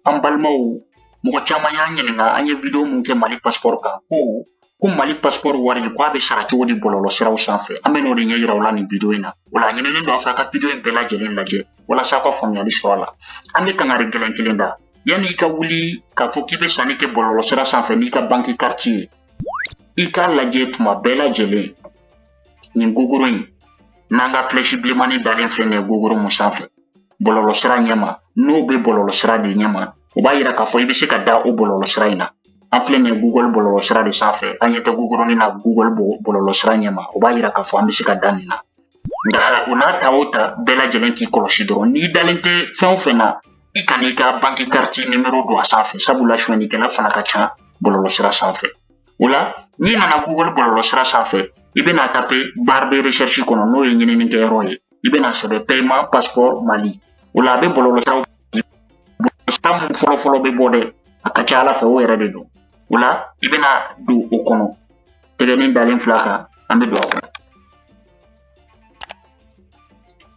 an balimaw mɔgɔ caman y'an ɲininka an ye video mun kɛ mali paspɔri kan ko ko mali paspɔri wari ko a bɛ sara cogo di bɔlɔlɔ siraw sanfɛ an bɛ n'o de ɲɛ yira aw la nin video in na o la a ɲininen don a fɛ a ka video in bɛɛ lajɛlen lajɛ walasa aw ka faamuyali sɔrɔ a la an bɛ kangari gɛlɛn kelen da yanni i ka wuli k'a fɔ k'i bɛ sanni kɛ bɔlɔlɔ sira sanfɛ n'i ka banki kariti ye i k'a lajɛ tuma bɛɛ lajɛlen nin gogoro in n'an ka filɛsi bilenmannin dalen filɛ nin ye gogoro mun sanfɛ bɔlɔlɔ sira ɲɛma n'o bɛ bɔlɔlɔ sira de ɲɛma o b'a yira k'a fɔ i bɛ se ka da o bɔlɔlɔ sira in na an filɛ nin ye google bɔlɔlɔ sira de sanfɛ an ɲɛ tɛ gogoronin na google bɔlɔlɔ sira ɲɛma o b'a yira k'a fɔ an bɛ se ka da nin na nka o n'a ta o ta bɛɛ lajɛlen k'i kɔlɔsi dɔrɔn n'i dalen tɛ fɛn o fɛn na i kan'i ka banki kariti nimero don a sanfɛ sabula sonyɛnikɛla fana ka ca bɔlɔlɔ sira sanfɛ o la n'i nana google bɔlɔlɔ sira sanfɛ i bɛna tape barre de recherche kɔnɔ n'o ye ɲininikɛyɔrɔ ye i bɛna sɛbɛn paiement passeport mali o la a bɛ bɔlɔlɔsiraw sira min fɔlɔfɔlɔ bɛ bɔ dɛ a ka ca ala fɛ o yɛrɛ de don o la i bɛna don o kɔnɔ tɛgɛnin dalen fil'a kan an bɛ don a kɔnɔ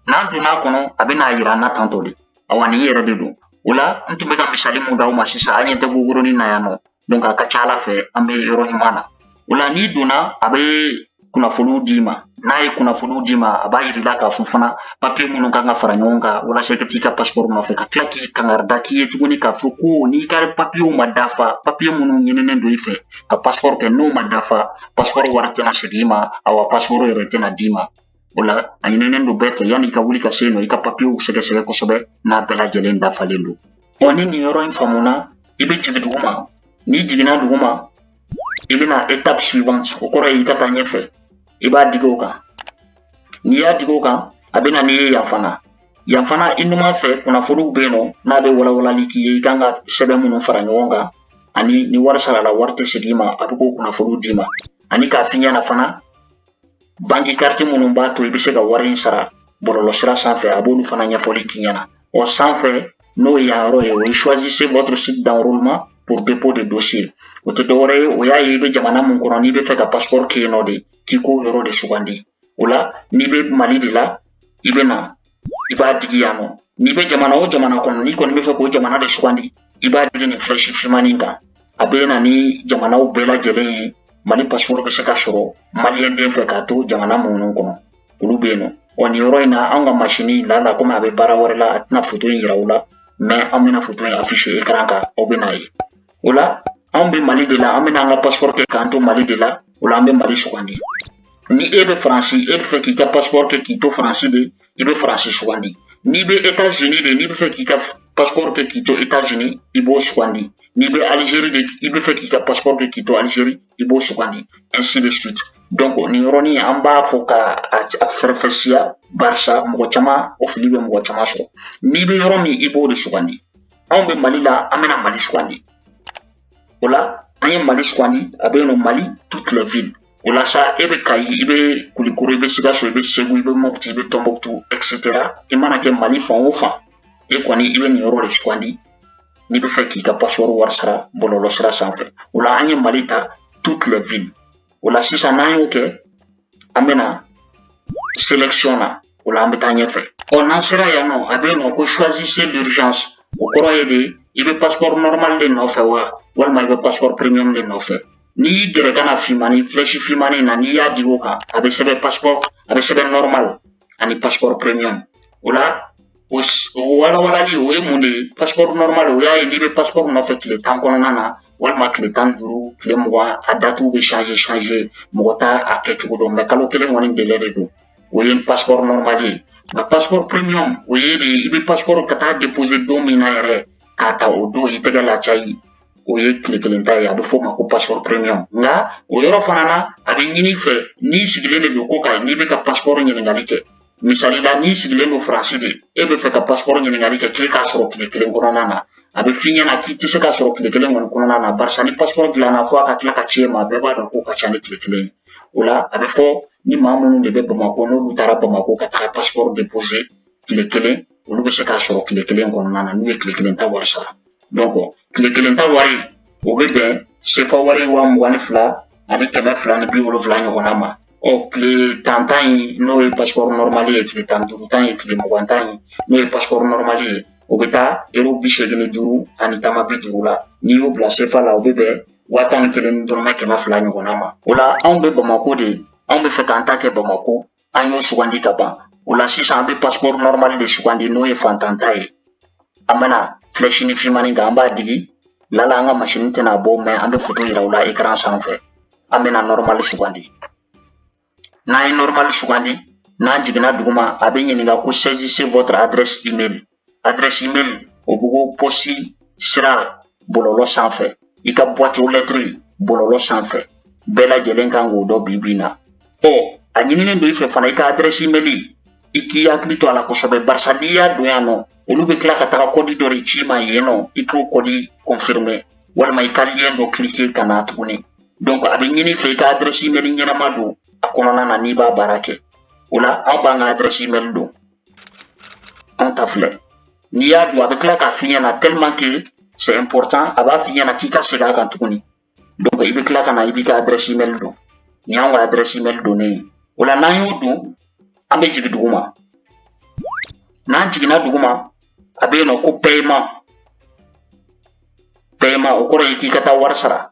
n'an donna a kɔnɔ a bɛna a yira an na tantɔ de awa nin yɛrɛ de don o la n tun bɛ ka misali mun d'aw ma sisan an ɲɛ tɛ gogoronin na yan nɔ Donc a ka ca Ala fɛ an bɛ yɔrɔ ɲuman na. O la n'i donna a bɛ kunnafoniw d'i ma n'a ye kunnafoniw d'i ma a b'a yir'i la k'a fɔ fana papiye minnu kan ka fara ɲɔgɔn kan walasa i ka t'i ka pasiporo nɔfɛ ka tila k'i kangarida k'i ye tuguni k'a fɔ ko n'i ka papiyew ma dafa papiye minnu ɲininen don i fɛ ka pasiporo kɛ n'o ma dafa pasiporo wari tɛna segin i ma awa pasiporo yɛrɛ tɛna d'i ma O la a ɲininen don bɛɛ fɛ yanni i ka wuli ka se yen nɔ i ka papiyew sɛgɛsɛgɛ kosɛbɛ n'a bɛɛ lajɛlen dafalen don ɔ ni nin yɔrɔ in faamuna i bɛ jigin dugu ma n'i jiginna dugu ma i bɛna étape suivante o kɔrɔ ye i ka taa ɲɛfɛ i b'a digi o kan n'i y'a digi o kan a bɛ na n'i ye yan fana yan fana i numan fɛ kunnafoniw bɛ yen nɔ n'a bɛ walawalali k'i ye i kan ka sɛbɛn minnu fara ɲɔgɔn kan ani ni wari sarala wari tɛ segin i ma a bɛ k'o kunnafoniw d'i ma ani k'a f'i ɲɛna fana banki kariti minnu b'a to i bɛ se ka wari in sara bɔlɔlɔ sira sanfɛ a b'olu fana ɲɛfɔli k'i ɲɛna o sanfɛ n'o ye yan yɔrɔ ye o ye choisissez votre site d'enrôlement pour dépôt de dossier o tɛ dɔwɛrɛ ye o y'a ye i bɛ jamana min kɔnɔ n'i bɛ fɛ ka passeport kɛ yen nɔ de k'i k'o yɔrɔ de sugandi o la n'i bɛ mali de la i bɛ na i b'a digi yan nɔ n'i bɛ jamana o jamana kɔnɔ n'i kɔni bɛ fɛ k'o jamana de sugandi i b'a digi nin filɛsi fimanin in kan a bɛ na ni jamanaw bɛɛ lajɛlen ye mali pasiporo bɛ se ka sɔrɔ maliyɛnden fɛ k'a to jamana minnu kɔnɔ olu bɛ yen nɔ wa nin yɔrɔ in na an ka masini in lala komi a bɛ baara wɛrɛ la a tɛna foto in yira aw la mɛ an bɛna foto in afishe ekran kan aw bɛn'a ye O la anw bɛ mali de la an bɛna an ka pasport kɛ k'an to mali de la o la an bɛ mali sugandi ni e bɛ faransi e bɛ fɛ k'i ka pasport kɛ k'i to faransi de i bɛ faransi sugandi n'i bɛ etats unis de n'i bɛ fɛ k'i ka pasport kɛ k'i to etats unis i b'o sugandi n'i bɛ algérie de i bɛ fɛ k'i ka pasport kɛ k'i to algérie i b'o sugandi ainsi de suite donc nin yɔrɔnin an b'a fɔ ka a faranfasiya barisa mɔgɔ caman o fili bɛ mɔgɔ caman sɔrɔ n'i bɛ yɔrɔ min i b'o de sugandi anw bɛ mali la an bɛna mali sugandi o la an ye mali sugandi a bɛ yen nɔ mali toute la ville o la sa e bɛ kayi i bɛ kulikoro i bɛ sikaso i bɛ segu i bɛ mɔputi i bɛ tɔnbɔkutu etc i mana kɛ mali fan o fan e kɔni i bɛ nin yɔrɔ de sugandi n'i bɛ fɛ k'i ka pasipɔri wari sara bɔlɔlɔ sira sanfɛ o la an ye mali ta toute la ville o la sisan n'an y'o kɛ an bɛna selection na o la an bɛ taa ɲɛfɛ ɔ n'an sera yan nɔ a bɛ yen nɔ ko choisissez l'urgence o kɔrɔ ye de i bɛ passeport normal de nɔfɛ wa walima i bɛ passeport premium de nɔfɛ n'i y'i gɛrɛ ka na finmani flèche finmani na n'i y'a digi o kan a bɛ sɛbɛn passeport a bɛ sɛbɛn normal ani passeport premium o la O o walawalali o ye mun de ye paspɔri nɔrɔmali o y'a ye n'i bɛ paspɔri nɔfɛ tile tan kɔnɔna na walima tile tan duuru tile mugan a datiw bɛ changer mɔgɔ t'a kɛcogo dɔn mɛ kalo kelen kɔni délai de don o ye paspɔri nɔrɔmali ye nka paspɔri premium o ye de i bɛ paspɔri ka taa depose don min na yɛrɛ k'a ta o don i tɛgɛ la ca ye o ye tile kelen ta ye a bɛ f'o ma ko paspɔri premium nka o yɔrɔ fana na a bɛ ɲini i fɛ n'i sigilen de don kɔkan n'i b'i ka paspɔri ɲininkali kɛ misali la n'i sigilen don faransi de e bɛ fɛ ka pasipɔri ɲininkali kɛ k'i k'a sɔrɔ tile kelen kɔnɔna na a bɛ f'i ɲɛna k'i tɛ se k'a sɔrɔ tile kelen kɔni kɔnɔna na barisa ni pasipɔri dilanna fo a ka tila ka ci e ma bɛɛ b'a dɔn k'o ka ca ni tile kelen ye o la a bɛ fɔ ni maa minnu de bɛ bamakɔ n'olu taara bamakɔ ka taga pasipɔri depose tile kelen olu bɛ se k'a sɔrɔ tile kelen kɔnɔna na n'u ye tile kelen ta wari sara tile kelen ta wari o bɛ bɛn sefa wari waa mugan ni fila ani kɛmɛ fila ni bi wolonfila ɲɔgɔnna ma ɔ tile tan ta nin n'o ye pasipɔri nɔrɔmali ye tile tan duuru ta ye tile mugan ta ye n'o ye pasipɔri nɔrɔmali ye o bɛ taa ero bi seegin ni duuru ani tama bi duuru la n'i y'o bila sefa la o bɛ bɛn waa tan ni kelen ni dɔrɔmɛ kɛmɛ fila ɲɔgɔnna ma o la anw bɛ bamako de anw bɛ fɛ k'an ta kɛ bamako an y'o sugandi ka ban o la sisan an bɛ pasipɔri nɔrɔmali de sugandi n'o ye faantan ta ye an bɛna filɛsini fimani kan an b'a digi lala an ka masini tɛna a bɔ mɛ an bɛ foto yira aw la ekran sanfɛ an bɛna nɔrɔmali sugandi n'an ye nɔrɔmali sugandi n'an jiginna duguma a bɛ ɲininka ko saisissez votre adresse email adresse email o bɛ ko pɔsi sira bɔlɔlɔ sanfɛ i ka boîte aux lettres bɔlɔlɔ sanfɛ bɛɛ lajɛlen kan k'o dɔn bi bi na ɔ a ɲininen don i fɛ fana i ka adresse email i k'i hakili to a la kosɛbɛ barisa n'i y'a don yan nɔ olu bɛ tila ka taga kɔdi dɔ de ci i ma yen nɔ i k'o kɔdi confirmer walima i ka lien dɔ cliquer ka na tuguni donc a bɛ ɲini i fɛ i ka adresse email ɲɛnama don a kɔnɔna na n'i b'a baara kɛ o la anw b'an ka adresse email don An ta filɛ n'i y'a don a bɛ tila k'a f'i ɲɛna tellement que c'est important a b'a f'i ɲɛna k'i ka segin a kan tuguni donc i bɛ tila ka na i b'i ka adresse email don nin y'anw ka adresse email donnen ye o la n'an y'o don an bɛ jigin duguma n'an jiginna duguma a bɛ yen nɔ ko paiement paiement o kɔrɔ ye k'i ka taa wari sara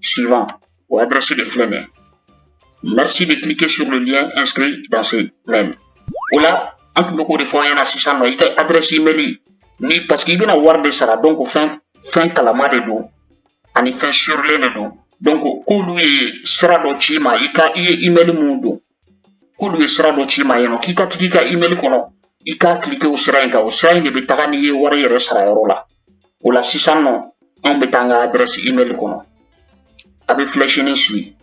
suivante o adresse de filɛ nin ye. Merci de cliquer sur le lien inscrit dans ce mail. O la an tun bɛ k'o de fɔ an ɲɛna sisan nɔ i ka adresse email ni parce que i bɛna wari de sara donc fɛn fɛn kalama de don ani fɛn surilen de don donc k'olu ye sira dɔ ci i ma i ka i ye email min don k'olu ye sira dɔ ci i ma yen nɔ k'i ka tag'i ka email kɔnɔ i ka cliquer o sira in kan o sira in de bɛ taga n'i ye wari yɛrɛ sara yɔrɔ la o la sisan nɔ anw bɛ taa an ka adresse email kɔnɔ a bɛ flèche nin suivre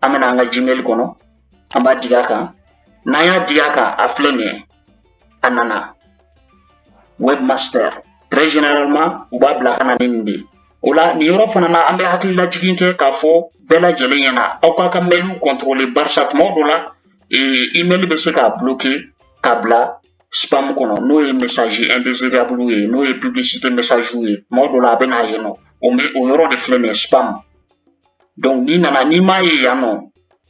an bɛna an ka gmail kɔnɔ an b'a digi a kan n'an y'a digi a kan a filɛ nin ye a nana webmaster très généralement u b'a bila ka na ni nin de ye o la nin yɔrɔ fana na an bɛ hakililajigin kɛ k'a fɔ bɛɛ lajɛlen ɲɛna aw k'aw ka mailw contrôler barisa tuma dɔ la email bɛ se k'a bloquer k'a bila spam kɔnɔ n'o ye message indésirable ye n'o ye publicité message ye tuma dɔ la a bɛ na yen nɔ o yɔrɔ de filɛ nin ye spam donc n'i nana n'i m'a ye yan nɔ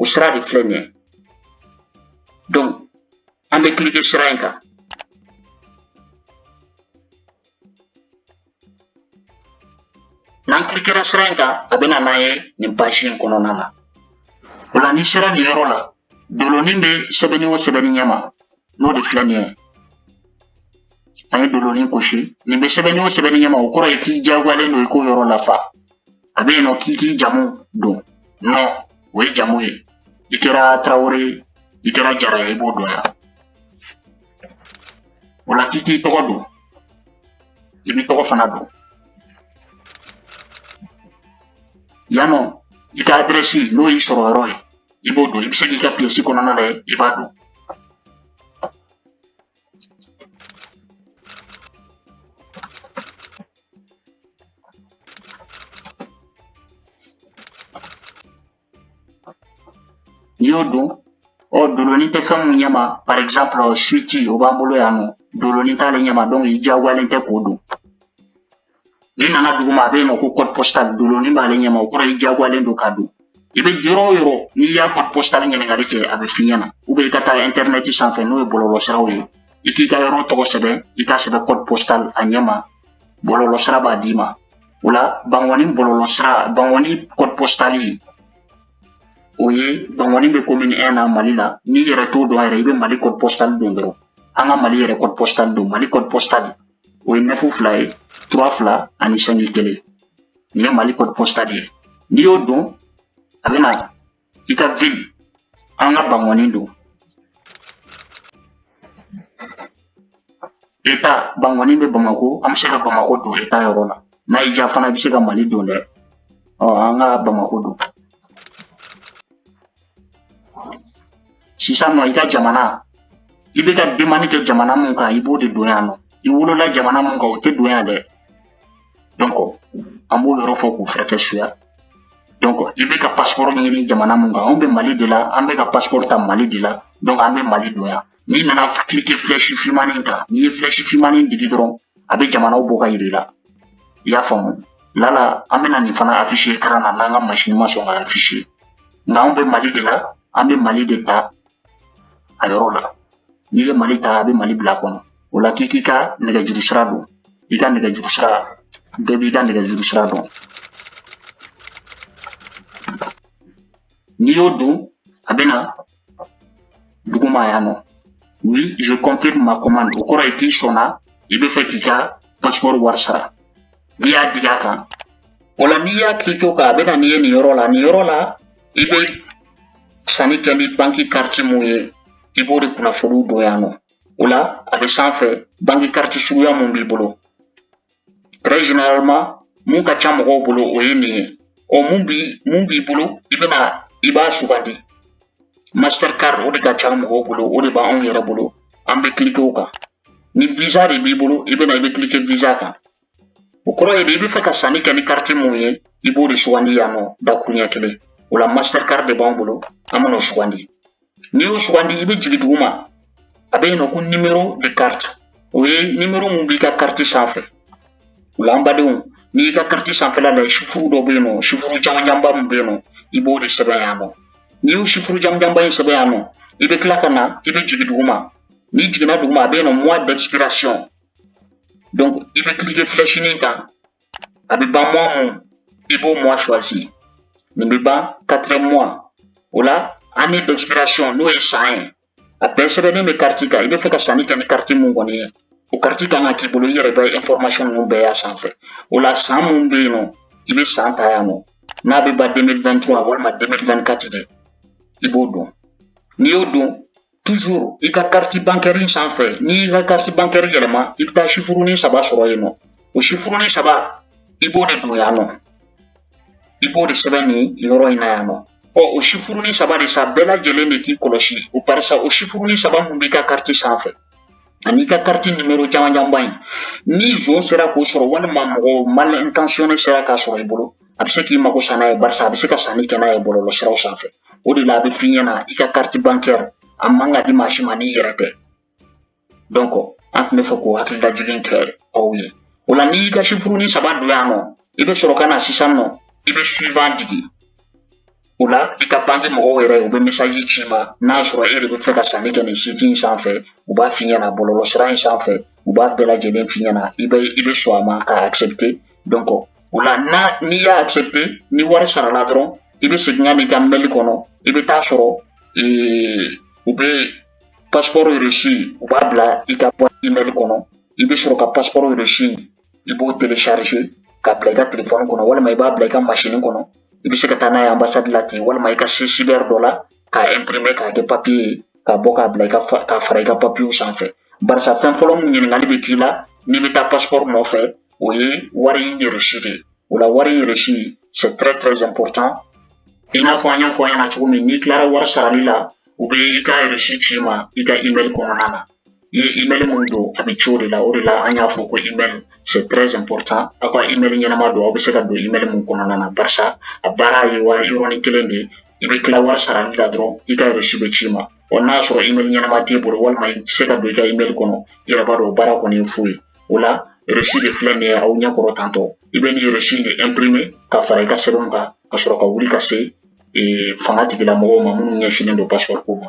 o sira de filɛ nin ye donc an bɛ cliquer sira in kan n'an kilikera sira in kan a bɛ na n'an ye nin page in kɔnɔna na o la n'i sera nin yɔrɔ la dolonin bɛ sɛbɛnni o sɛbɛnni ɲɛma n'o de filɛ nin ye an ye dolonin kɔlɔsi nin bɛ sɛbɛnni o sɛbɛnni ɲɛma o kɔrɔ ye k'i diyagoyalen don i k'o yɔrɔ lafa a bɛ yen nɔ k'i k'i jamu don nom o ye jamu ye i kɛra Traoré i kɛra jara ye i b'o don yan o la k'i k'i tɔgɔ don i b'i tɔgɔ fana don yan nɔ i ka adresse n'o y'i sɔrɔ yɔrɔ ye i b'o don i bɛ se k'i ka pièce kɔnɔna la i b'a don y'o don ɔ doloni tɛ fɛn mun ɲɛma par exemple suite o b'an bolo yan nɔ doloni t'ale ɲɛma donc i diyagoyalen tɛ k'o don n'i nana duguma a bɛ yen nɔ ko code postal doloni b'ale ɲɛma o kɔrɔ i diyagoyalen don k'a don i bɛ yɔrɔ o yɔrɔ n'i y'a code postal ɲininkali kɛ a bɛ f'i ɲɛna ou bien i ka taa internet sanfɛ n'o ye bɔlɔlɔsiraw ye i k'i ka yɔrɔ tɔgɔ sɛbɛn i k'a sɛbɛn code postal a ɲɛma bɔlɔlɔsira b'a d'i ma o la bangɔni bɔlɔlɔsira bangɔni code postal o ye bangɔni bɛ commune 1 na mali la n'i yɛrɛ t'o dɔn yɛrɛ i bɛ mali code postal don dɔrɔn an ka mali yɛrɛ code postal don mali code postal o ye neuf fila ye trois fila ani cinq kelen nin ye mali code postal de ye n'i y'o don a bɛna i ka ville an ka bangɔni don état bangɔni bɛ bamako an bɛ se ka bamako don état yɔrɔ la n'a y'i diya fana i bɛ se ka mali don dɛ ɔ an ka bamako don sisan nɔ i ka jamana i bɛ ka demande kɛ jamana mun kan i b'o de don yan nɔ i wolola jamana mun kan o tɛ don yan dɛ donc an b'o yɔrɔ fɔ k'o faranfasiya donc i bɛ ka passeport ɲini jamana mun kan anw bɛ mali de la an bɛ ka passeport ta mali de la donc an bɛ mali don yan n'i nana cliquer flèche fimanin kan n'i ye flèche fimanin digi dɔrɔn a bɛ jamanaw bɔ ka yir'i la i y'a faamu lala an bɛna nin fana afficher écran na n'an ka masini ma sɔn ka afficher nka anw bɛ mali de la an bɛ mali de ta a yɔrɔ la n'i ye mali ta a bɛ mali bila kɔnɔ o la k'i k'i ka nɛgɛjuru sira don i ka nɛgɛjuru sira bɛɛ b'i ka nɛgɛjuru sira dɔn n'i y'o don a bɛna duguma yan nɔ oui je confirme ma commande o kɔrɔ ye k'i sɔnna i bɛ fɛ k'i ka passeport wari sara n'i y'a digi a kan o la n'i y'a cliquer o kan a bɛ na n'i ye nin yɔrɔ la nin yɔrɔ la i bɛ sanni kɛ ni banki kariti mun ye i b'o de kunnafoniw don yan nɔ o la a bɛ sanfɛ banki kariti suguya mun b'i bolo très généralement mun ka ca mɔgɔw bolo o ye nin ye ɔ mun b'i mun b'i bolo i bɛna i b'a sugandi mastercard o de ka ca mɔgɔw bolo o de b'anw yɛrɛ bolo an bɛ cliquer o kan ni visa de b'i bolo i bɛna i bɛ cliquer visa kan o kɔrɔ ye de i bɛ fɛ ka sanni kɛ ni kariti mun ye i b'o de sugandi yan nɔ dakuruɲɛ kelen o la mastercard de b'anw bolo an bɛn'o sugandi n'i y'o sugandi i bɛ jigin duguma a bɛ yen nɔ ko nimero de kariti o ye nimero min b'i ka kariti sanfɛ o la an badenw n'i y'i ka kariti sanfɛla lajɛ sifuru dɔ bɛ yen nɔ sifuru janjanba min bɛ yen nɔ i b'o de sɛbɛn yan nɔ n'i y'o sifuru janjanba in sɛbɛn yan nɔ i bɛ tila ka na i bɛ jigin duguma n'i jiginna duguma a bɛ yen nɔ mois d'expiration donc i bɛ cliquer flèche nin kan A bɛ ban mois mun i b'o mois choisi nin bɛ ban quatrième mois o la année d'expiration n'o ye san ye a bɛɛ sɛbɛnnen bɛ carte kan i bɛ fɛ ka sanni kɛ ni carte mun kɔni ye o carte kan ka k'i bolo i yɛrɛ bɛ information ninnu bɛɛ y'a sanfɛ o la san mun bɛ yen nɔ i bɛ san ta yan nɔ n'a bɛ ban 2023 walima 2024 de i b'o don n'i y'o don Toujours i ka carte bancaire in sanfɛ n'i y'i ka carte bancaire yɛlɛma i bɛ taa sifurunin saba sɔrɔ yen nɔ o sifurunin saba i b'o de don yan nɔ i b'o de sɛbɛn nin yɔrɔ in na yan nɔ ɔ o sifurunin saba de sa bɛɛ lajɛlen de k'i kɔlɔsi o barisa o sifurunin saba mun b'i ka carte sanfɛ an'i ka kariti nimero janjanba in ni zon sera k'o sɔrɔ walima mɔgɔ mal intentionné sera k'a sɔrɔ i bolo a bɛ se k'i mago sa n'a ye barisa a bɛ se ka sanni kɛ n'a ye bɔlɔlɔ siraw sanfɛ o de la a bɛ f'i ɲɛna i ka kariti bankɛri a man ka di maa si ma n'i yɛrɛ tɛ donc an tun bɛ fɛ k'o hakililajigin kɛ aw ye o la n'i y'i ka sifurunin saba don yan nɔ i bɛ sɔrɔ ka na sisan nɔ i bɛ suivant digi o la i ka banki mɔgɔw yɛrɛ u bɛ mesaji ci ma n'a sɔrɔ e de bɛ fɛ ka sanni kɛ nin siti in sanfɛ u b'a f'i ɲɛna bɔlɔlɔ sira in sanfɛ u b'a bɛɛ lajɛlen f'i ɲɛna i bɛ i bɛ sɔn a ma k'a accepte donc o la n'a n'i y'a accepte ni wari sarala dɔrɔn i bɛ segin ka n'i ka mɛli kɔnɔ i bɛ taa sɔrɔ u bɛ pasipɔri resi u b'a bila i ka email kɔnɔ i bɛ sɔrɔ ka pasipɔri resi i b'o telecharge k'a bila i ka telefɔni kɔnɔ walima i b'a bila i ka masini kɔnɔ i bɛ se ka taa n'a ye ambasadi la ten walima i ka se sibɛri dɔ la k'a imprime k'a kɛ papiye ye k'a bɔ k'a bila k'a fara i ka papiyew sanfɛ barisa fɛn fɔlɔ min ɲininkali bɛ k'i la n'i bɛ taa pasipɔri nɔfɛ o ye wari resi de ye o la wari resi c'est très très important i n'a fɔ an y'a fɔ aw ɲɛna cogo min n'i tilara wari sarali la u bɛ i ka resi ci ma i ka email kɔnɔna na i ye email mun don a bɛ ci o de la o de la an y'a fɔ ko email c'est très important aw ka email ɲɛnama don aw bɛ se ka don email mun kɔnɔna na barisa a baara ye wari yɔrɔnin kelen de ye i bɛ tila wari sarali la dɔrɔn i ka reçu bɛ ci ma wa n'a sɔrɔ email ɲɛnama t'i bolo walima i tɛ se ka don i ka email kɔnɔ i yɛrɛ b'a dɔn o baara kɔni ye fu ye o la reçu de filɛ nin ye aw ɲɛ kɔrɔ tantɔ i bɛ nin reçu de imprimer ka fara i ka sɛbɛnw kan ka sɔrɔ ka wuli ka se fanga tigilamɔgɔw ma minnu ɲɛsinnen don passeport ko ma